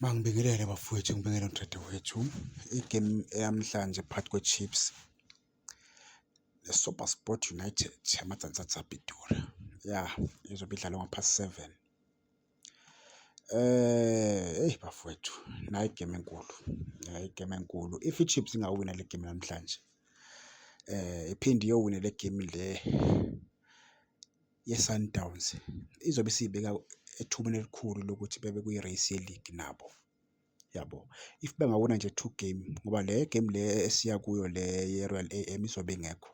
Mangibingelele bafowethu, ngibingelele nodadewethu. Igemu eyamhlanje phakathi kweChiefs neSuperSport United yaMadzandzadza Pitori, ya izobe idlalwa ngapha seven. Eh, eyi bafowethu, nayi igemu enkulu, nayi igemu enkulu. If iChiefs ingawina le gemu namhlanje, eh iphinde iyowina le gemu le yeSundowns izobe isiyibeka ethubeni elikhulu lokuthi bebe kwi-race yeligi nabo yabo. If bengawina nje two game ngoba le game le esiya kuyo le ye-Royal AM izobe ingekho,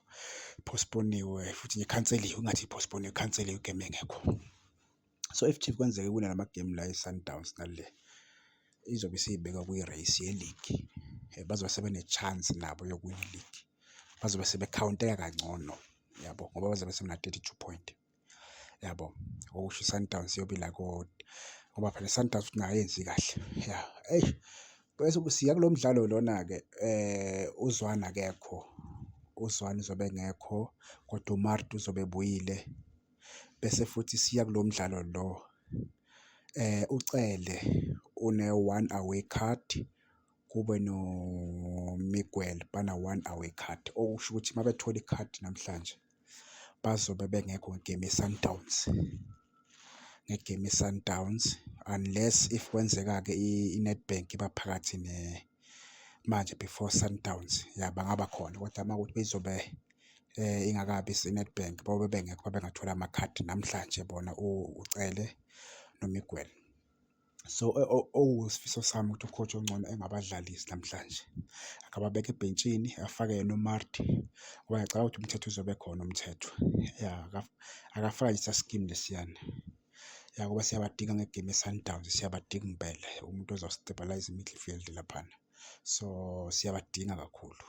postpone-iwe futhi nje ikhanseliwe, ingathi i-postpone-iwe, ikhanseliwe igemu engekho. So if Chiefs kwenzeka iwina la magemu la eSundowns nale, izobe isiyibeka kwi-race yeligi, bazobe sebene-chance nabo yokuwina iligi. bazobe sebekhawunteka kangcono yabo ngoba bazobe sebena-thirty-two point yabo okusho i-Sundowns iyobe ila koti ngoba phela i-Sundowns ukuthi ingayenzi kahle ya eyi bese siya kulo mdlalo lona-ke um uZwane akekho uZwane uzobe engekho kodwa uMarti uzobe ebuyile bese futhi siya kulo mdlalo lo um uCele une-one away card. kube noMiguel bana-one away card, okusho ukuthi uma bethola ikhadi namhlanje bazobe bengekho ngegemu yeSundowns, ngegemu yeSundowns unless if kwenzeka-ke iNedbank iba phakathi manje before Sundowns ya bangaba khona kodwa uma kuwukuthi izobe um ingakabi iNedbank bayobe bengekho bengathola amakhadi namhlanje bona uCele noMiguel. So, okuwusifiso sami ukuthi u-coach ongcono engabadlalisi namhlanje, akababeke ebhentshini afake yena uMarty ngoba ngiyacabanga ukuthi umthetho uzobe khona umthetho. Ya, akafake nje sasikimu lesiyana. Ya, ngoba siyabadinga ngegemu yeSundowns, siyabadinga impela umuntu ozo-stabilise i-midfield laphana. So, siyabadinga kakhulu.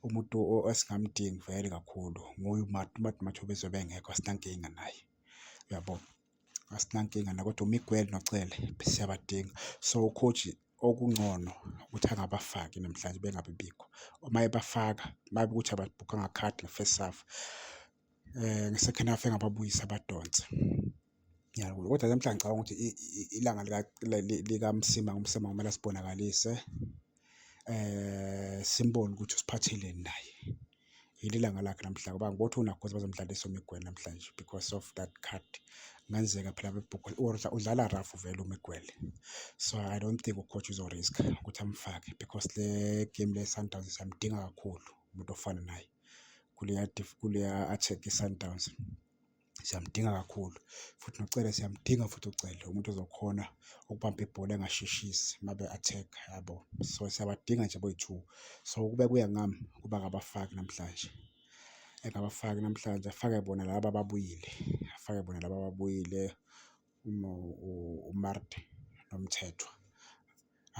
Umuntu esingamdingi vele kakhulu nguye uMarty, uMarty uma kuthiwa ubezobe engekho asinankinga naye. Uyabo? asinankinga la kodwa uMiguel noCele siyabadinga so coach okungcono ukuthi angabafaki namhlanje bengabe bikho uma ebafaka babe ukuthi ababhukhanga card nge-first half eh nge-second half engababuyisa abadonse ngiyakubona kodwa namhlanje ngicabanga ukuthi ilanga lika likamsima ngumsima kumele sibonakalise eh simbone ukuthi usiphatheleni naye yile langa lakhe namhlanje ngoba ngibotha unakhosi bazomdlalisa umigwela namhlanje because of that card kungenzeka phela bebhukwe or udlala rough vele umigwele so i don't think ucoach uzorisk ukuthi amfake because le game le sundowns siyamdinga kakhulu umuntu ofana naye kuleya kuleya attack i-sundowns siyamdinga kakhulu futhi noCele siyamdinga futhi uCele umuntu ozokhona ukubamba ibhola engasheshisi uma be-attack yabo so siyabadinga nje boyi-two so kube kuya ngami kuba ngabafaki namhlanje engabafaki namhlanje afake bona laba ababuyile afake bona laba ababuyile uMarte nomthethwa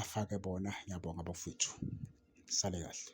afake bona ngiyabonga bafowethu sale kahle